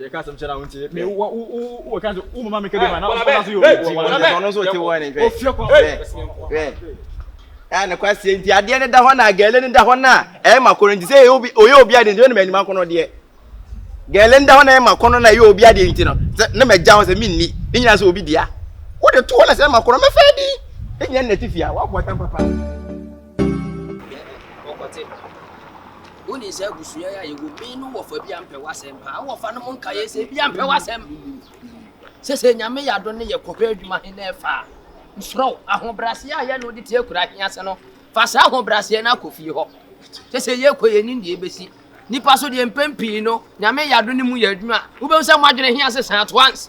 yɛ ka asɛm kyɛ na wontie me wo wo wo wo ka sɛ wo mama me ka bi ma na ɔkɔda so yɛ obi wɔ wɔn ɔno nso te wɔn ne hwɛ ofie kɔ hwɛ a ne kwaseɛ nti adeɛ ne da hɔ na gɛle ne da hɔ na ɛyɛ ma kɔnɔ nti sɛ ɔyɛ obi adeɛ nti ne ma anim akɔnɔ deɛ gɛle ne da hɔ na ɛyɛ ma kɔnɔ na ɛyɛ obi adeɛ nti no sɛ ne ma gya hɔ sɛ menni ne nyina sɛ obi dea wode to hɔ na sɛ ɛma kɔnɔ mɛfɛ di ne nyina nna ti fia waboa tam papa Dabi, ɔkɔte. Woni sɛ abusua ya yɛ wo me no wɔfa bi ampɛ wasɛm paa wɔfa no mo nka yɛ sɛ bi ampɛ wasɛm sɛ sɛ nyame yɛ ado ne yɛ kɔhwɛ adwuma he na ɛfa nsoro ahobraseɛ a yɛ no de te akura he ase no fa saa ahobraseɛ no akɔ fie hɔ sɛ sɛ yɛ kɔ yɛ nim deɛ ɛbɛsi nipa so deɛ mpɛn pii no nyame yɛ ado ne mu yɛ adwuma wobɛhu sɛ mo adwene he ase saa at once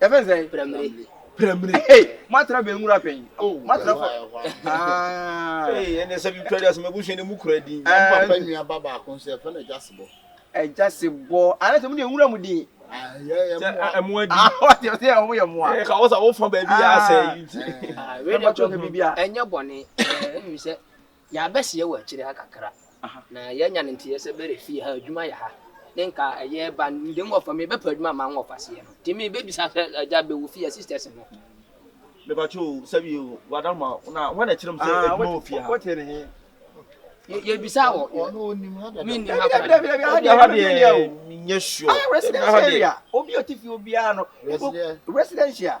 yɛfɛ sɛ pramire pramire hey moatra bɛn nwura pɛn oh moatra fɔ ah hey ɛnɛ sɛ bi twɛde asɛm abusua ne mu kura din na papa nua ba baako nso yɛfɛ no agya sebɔ agya sebɔ ana sɛ mo ne nwura mu din ɛmoa di ɔte ɔte a wɔyɛ mmoa ɛka wɔ sɛ wofa baabi yɛ asɛ ɛnyɛ bɔne ɛmmi sɛ Yɛabɛseɛ wɔ akyire ha kakra na yɛanya no nteɛ sɛ bɛrɛ fie ha adwuma yɛ ha ne nka ɛyɛ ba nde nwɔfa me bɛpɛ adwuma ma nwɔfa seɛ no nti me bɛbisa sɛ agya bɛwɔ fie a sisters no Me pa kye o sɛbi o wada ma na hɔ na ɛkyerɛ mu sɛ adwuma wɔ fie ha. Yɛ bisa wɔ me nnim ha kora deɛ. Dabi dabi ha deɛ me nyɛ sure. Ayɛ residence area obi a ɔte fie obiara no residential.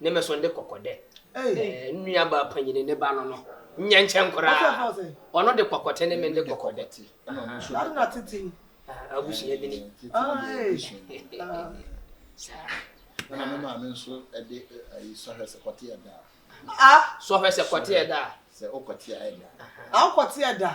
ne me so de kɔkɔ dɛ nua baa panyini ne ba no no nyɛ nkyɛn koraa ɔno de kɔkɔ te ne me de kɔkɔ dɛ abusua bi ni na me maame nso de ayi sɔhwɛ sɛ kɔte ɛda a sɔhwɛ sɛ kɔte ɛda a sɛ ɔkɔte ɛda a ɔkɔte ɛda a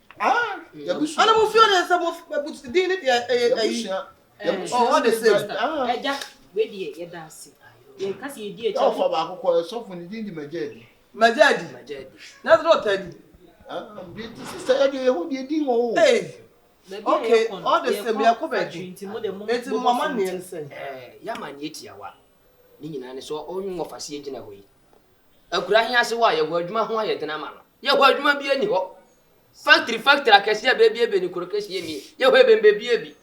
ana mo fio ne sɛ mo bɛbu din ne deɛ ɛyɛ ayi ɔwɔ de se ɛgya wei deɛ yɛda ase yɛn kasi yɛ di ɛkyɛ ɔfa baako kɔ ɛsɔfo ne din di magya adi magya adi magya adi na sɛ ɔta adi deɛ ti si sɛ ɛdeɛ yɛho deɛ din wɔ o okay ɔde sɛ bi ɛkɔ bɛdi nti mo de mo nti mo ama neɛ ne sɛ yɛama neɛ tiawa ne nyinaa ne sɛ ɔnwe wɔfa se yɛgyina hɔ yi Akura he ase hɔ a yɛhɔ adwuma ho ayɛ den ama no. Yɛhɔ adwuma biaa nni hɔ. Factory factory akɛseɛ bɛɛbi abien ne kuro keseɛ mmiɛ. Yɛhɔ ɛbɛn bɛɛbi abi.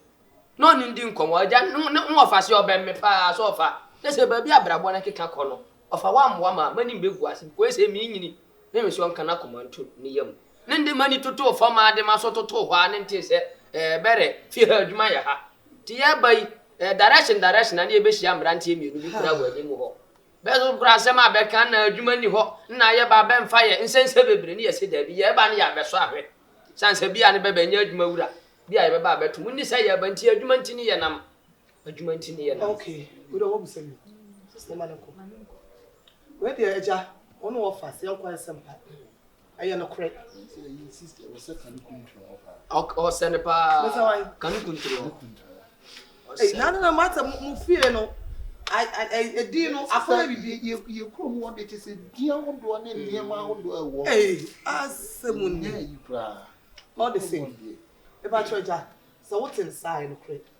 Na ɔne ndi nkɔmmɔ. Agya no ne ho ɔfa aseɛ ɔbɛn me paa sɛ ɔfa. Kyɛ sɛ baabi a abrabɔ no keka kɔ no, ɔfa woammoa me a, m'anim bɛgu ase bkos sɛ menyini. Ne me sɛ ɔnka n'akoma nto ne yam. Ne nde m'ani totoo fam aa de m'aso totoo hɔ aa ne ntee sɛ, Ɛɛ bɛrɛ, fie ha adwuma yɛ ha. Nti yɛɛba yi, ɛɛ direction direction a ne yɛbɛhyia mmeranteɛ mmienu bi koraa wɔ anim hɔ. Bɛso nkorɔ asɛm a bɛka anaa adwuma nni hɔ na yɛba a bɛmfa yɛ nsɛnsɛ bebree ne yɛse daabi, yɛɛba ne yɛabɛso ahwɛ sane sɛ bia ne bɛba nyɛ adwuma wura bi a yɛbɛba a bɛto mu nni sɛ yɛɛba nti adwuma nti ne yɛnam adwuma nti ne yɛnam. Ok wei deɛ wabu sɛm yi momane nkɔ wei deɛ agya wɔne wɔfa sɛ yɛnkɔ ayɛ sɛmpa. ɛyɛ nokorɛ. ɔsɛ no paa ka ne kunturo na no na mata mo fie no ɛdin no afɔlɛ bibi yɛ kuro mu ɔde te sɛ dua ahodoɔ ne nneɛma ahodoɔ ɛwɔ asɛ mu nyɛ yi koraa ɔde sɛ ɛbɛkyerɛ gya sɛ wote nsae nokorɛ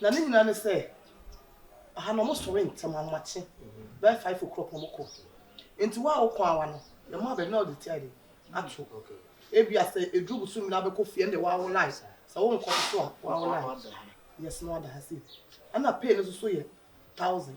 na ne nyinaa ne sɛ aha na wɔsɔre ntɛm ahomakye bɛyɛ five o'clock na wɔkɔ nti wo a wokɔ awa no yɛma abɛn na ɔde tia de ato ebi asɛ eduru busu mmiri abɛkɔ fie ɛnde wawo line sɛ wonkɔ so a wawo line yɛsɛ na wada ha sei ɛna pay no nso so yɛ thousand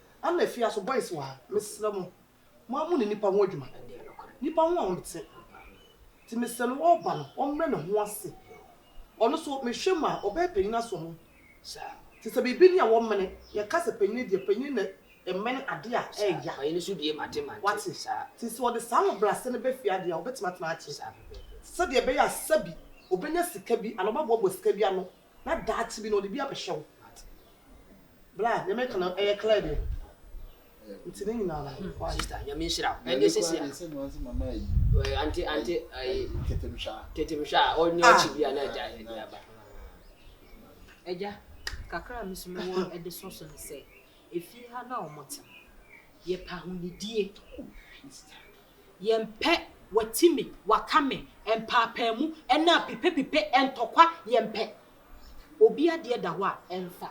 Ana efi aso boys wɔ ha mesrɛ mo mo ara mo ne nipa ho adwuma nipa ho a ɔnte nti mesrɛ no ɔɔba no ɔmmrɛ ne ho ase ɔno nso mehwɛ mu a ɔbɛyɛ panyin aso ho nti sɛ biribi ni a wɔmmene yɛka sɛ panyin deɛ panyin na ɛmmɛne ade a ɛɛya wate nti sɛ ɔde saa ahobrɛase no bɛ fie adeɛ a ɔbɛtumi atena akye sɛdeɛ ɛbɛyɛ a sɛbi ɔbɛnya sika bi anaa ɔbɛboaboa sika bi ano na daakye bi no ɔde bi abɛhyɛ wo. Bra, deɛ meka no ɛyɛ clear deɛ? Nti ne nyinaa no hmm. why? Sister, nyame nhyira wo. Ɛnde sisi a. Ɛsɛ no ansi mama yi. Ɛɛ ante ante ɛyi. Tetemhwa. Tetemhwa a ɔnyɛ ah. ɔkyi bi a na ɛgya ɛdi aba. Ɛgya kakra a mi so mi wɔ ɛde so so no sɛ efie ha na wɔn te yɛ pa ho nidie. Yɛmpɛ wati me waka me mpaapaamu ɛna apipepipe ntɔkwa yɛmpɛ obi adeɛ da hɔ a ɛnfa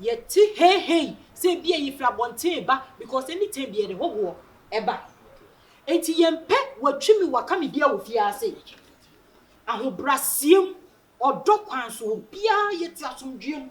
yɛte heihei sɛ ebi a yɛfiri abɔnten reba because anytime bi yɛde hohoɔ ɛba enti yɛmpɛ watwi me waka me bi a wɔ fie ase ahobraseɛ mu ɔdɔ kwan so obiara yɛte asomdwoeɛ mu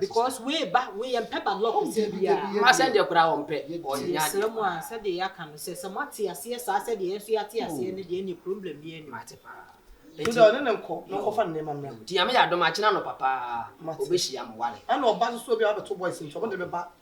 because wei ba wei yɛn pɛ ba lɔk sɛ bia ma sɛ deɛ koraa wɔn pɛ wɔn nya srɛ mu a sɛ deɛ yɛaka no sɛ sɛ mo ate aseɛ saa sɛ deɛ yɛn nso yɛate aseɛ no deɛ ne problem bi ɛni mate paa nti ɔne ne nkɔ na ɔkɔfa nneɛma mmra nti ame yɛ adom akyena no papa ɔbɛhyia mo wale ɛna ɔba soso bi a wabɛto boys nti ɔmo de bɛba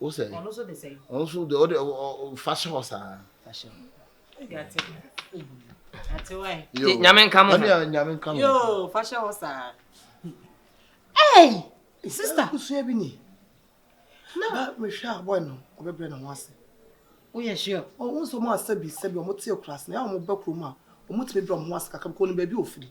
wo sɛ ɔno nso de sɛ ɔno nso de ɔde fa hyɛ hɔ saa nyame nka mo nyame nka mo yo fa hyɛ hɔ saa ei sister kusua bi ni na mehwɛ a boy no ɔbɛbrɛ ne ho ase woyɛ sure ɔwo nso mo asɛ bi sɛ bi ɔmo te kurase na yɛ ɔmo ba kurom a ɔmo tumi brɛ ɔmo ho ase kakra kɔ no baabi ofiri